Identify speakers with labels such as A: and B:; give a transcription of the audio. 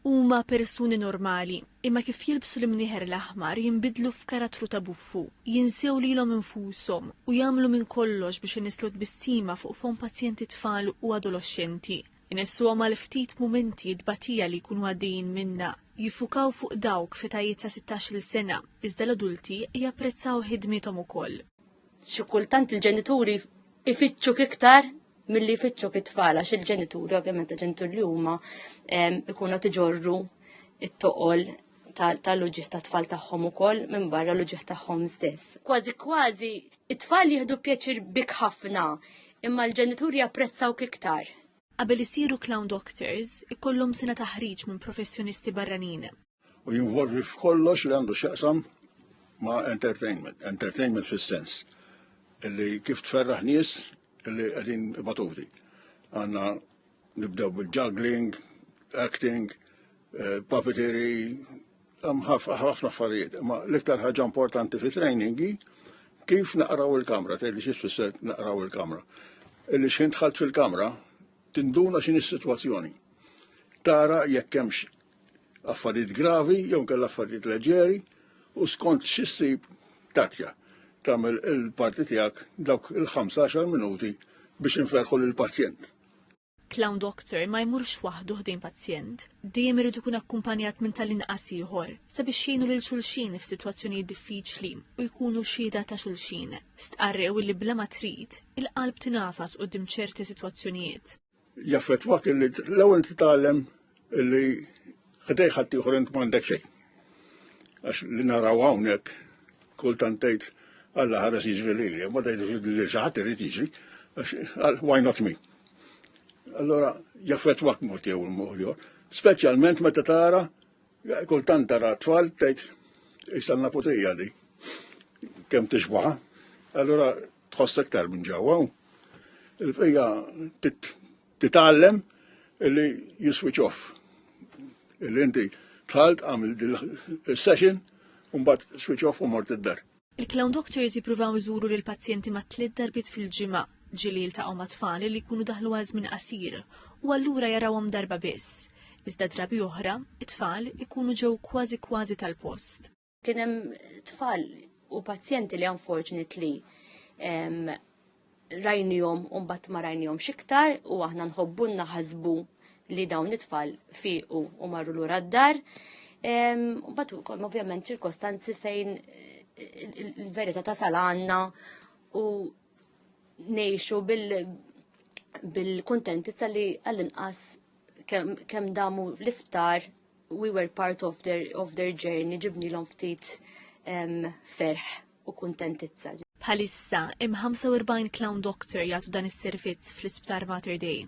A: Huma persuni normali, imma kif jilbsu l-imnieħer l-aħmar jinbidlu f'karattru ta' buffu, jinsew lilhom infushom u jagħmlu minn kollox biex inisslu tbissima fuq fomm pazjenti tfal u adoloxxenti. Inissuhom għal ftit mumenti t-tbatija li jkunu għaddejjin minnha, jiffukaw fuq dawk f'etajiet ta' sittax-il sena, iżda l-adulti japprezzaw ħidmiethom ukoll. Xi kultant
B: il-ġenituri ifittxu kiktar milli jfittxu kit-tfal għax il-ġenituri ovvjament il-ġenituri li huma ikunu tiġorru it-toqol tal-uġieħ ta' tfal tagħhom ukoll minn barra l-uġieħ tagħhom stess. Kważi kważi it-tfal jieħdu pjaċir bik ħafna imma l-ġenituri japprezzaw iktar. Qabel isiru
A: clown doctors, ikollhom sena taħriġ minn professjonisti barranin. u jinvolvi
C: f'kollox li għandu x'jaqsam ma' entertainment. Entertainment fis-sens li kif tferraħ nies li qegħdin batuvdi. Għandna nibdew bil-juggling, acting, eh, puppetry, ħafna affarijiet. Ma l-iktar ħaġa importanti fi training hi kif naqraw il-kamra, tgħidli xi tfisser naqraw il-kamra. Illi x'ħin dħalt fil-kamra tinduna x'in is-sitwazzjoni. Tara jekk hemmx affarijiet gravi jew inkella affarijiet leġeri u skont xi ssib tatja tagħmel il-parti tiegħek dawk il-15 minuti biex inferħu lill-pazjent. Clown
A: Doctor ma jmurx waħdu ħdejn pazjent. Dejjem irid ikun akkumpanjat minn tal-inqas ieħor sabiex jgħinu lil xulxin f'sitwazzjonijiet diffiċli u jkunu xhieda ta' xulxin. Stqarrew li bla ma trid, il-qalb tingħafas quddiem ċerti sitwazzjonijiet. jaffettwak
C: li l-ewwel titgħallem li ħdej ħadd ieħor int m'għandek xejn. Għax li naraw hawnhekk kultant tgħid Alla ħares jiġri lili, ma tgħidx li xi ħadd irid jiġri, għax why not me? Allora jaffettwak mod jew il-moħjor, speċjalment meta tara kultant tara tfal tgħid isalna putija di kemm tixbaħ. Allora tħoss iktar minn ġewwa u hija titgħallem li jiswitch off. Illi inti tħalt għamil il-session u mbagħad switch off u mort id-dar. Il-clown doctors
A: jippruvaw iżuru lil pazjenti ma' tliet darbiet fil-ġimgħa, ġieli jiltaqgħu ma' tfal li jkunu daħlu għal żmien qasir u allura jarawhom darba biss. Iżda drabi oħra, it-tfal ikunu ġew kważi kważi tal-post. Kien hemm
B: tfal u pazjenti li unfortunately rajnijom un bat ma rajnijom xiktar u aħna nħobbunna ħazbu li dawn it-tfal fiqu u marru l-ura d-dar. Bat u kol, ovvjament, ċirkostanzi fejn il-verita ta' salanna u nejxu bil-kontentizza li għall-inqas kem damu l-isptar we were part of their, of their journey, ġibni l ftit um, ferħ u kontentizza. Bħalissa,
A: im 45 clown doctor jgħatu dan is-servizz fl-isptar Mater Dei.